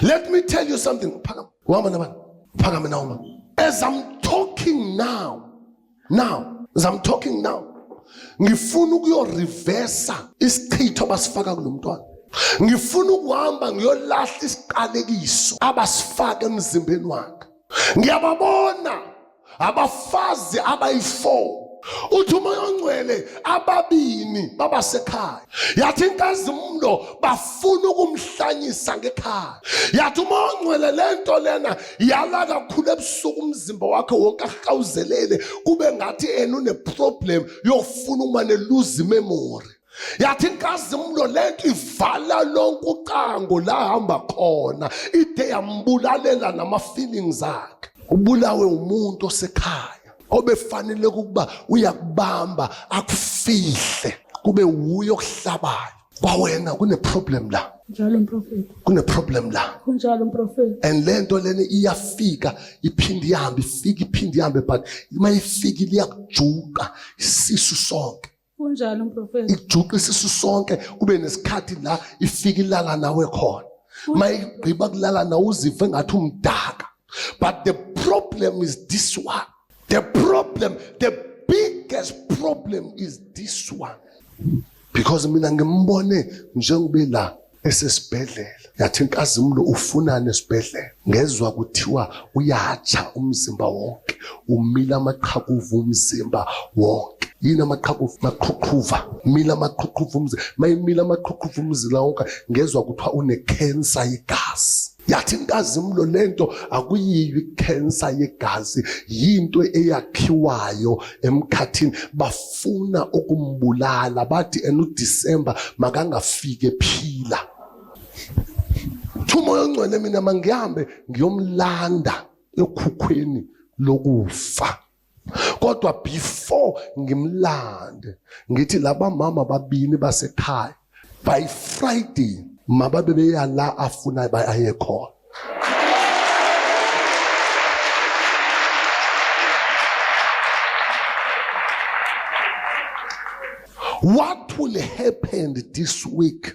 Let me tell you something. Phakama. Uhamba nabani? Phakama na uma. As I'm talking now. Now, as I'm talking now. Ngifuna ukuyo reverse isichitho basifaka kulomntwana. Ngifuna ukuhamba ngiyolahla isiqalekiso abasifaka emzimbeni wakhe. Ngiyababona abafazi abayi-4 uthi umoya ongcwele ababini babasekhaya yathi inkazimulo bafuna ukumhlanyisa ngekhaya yathi umoya ongcwele le nto lena yala kakhulu ebusuku umzimba wakhe wonke ahawuzelele kube ngathi ena uneproblem yokufuna uma neluza imemori yathi inkazimulo lento ivala lonke ucango la hamba khona ide yambulalela nama-feelings akhe ubulawe umuntu osekhaya obefanele ukuba uyakubamba akufihle kube wuye okuhlabayo kwawena kuneproblem la njalo mprofeti kuneproblem la kunjalo mprofeti and le nto lena iyafika iphinde ihambe ifike iphinde ihambe but uma ifika liyakujuka isisu sonke Kunjalo mprofesa. Ijuqe isisu sonke kube nesikhathi la ifika ilala nawe khona. Mayigqiba kulala nawe uzive ngathi umdaka. But the problem is this one. The problem, the biggest problem is this one. Because mina ngimbone njengobe la esesibhedlela yathi inkazimulo ufunani esibhedlela ngezwa kuthiwa uyatsha umzimba wonke umila amaqhakuva umzimba wonke yini amaqhakuva maqhuqhuva mila amaqhuqhuva umzimba mayimila amaqhuqhuva umzila wonke ngezwa kuthiwa unekhensa yegazi yathi inkazimulo lento akuyiyo ikhensa yegazi yinto eyakhiwayo emkhathini bafuna ukumbulala bathi enu December makangafike phila Thuma ongcwele mina mangihambe ngiyomlanda ekhukhweni lokufa kodwa before ngimlande ngithi laba mama babini basekhaya by friday mababe beya la afuna baye khona what will happen this week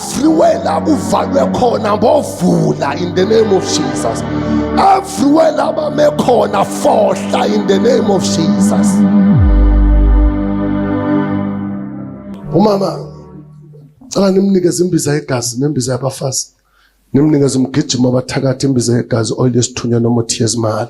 everywhere la kuvalwe khona ngovula in the name of Jesus everywhere la bame khona fohla in the name of Jesus umama cela nimnikeze imbiza yegazi nembiza yabafazi nimnikeze umgijima abathakathi imbiza yegazi oil yesithunywa noma uthiye ezimali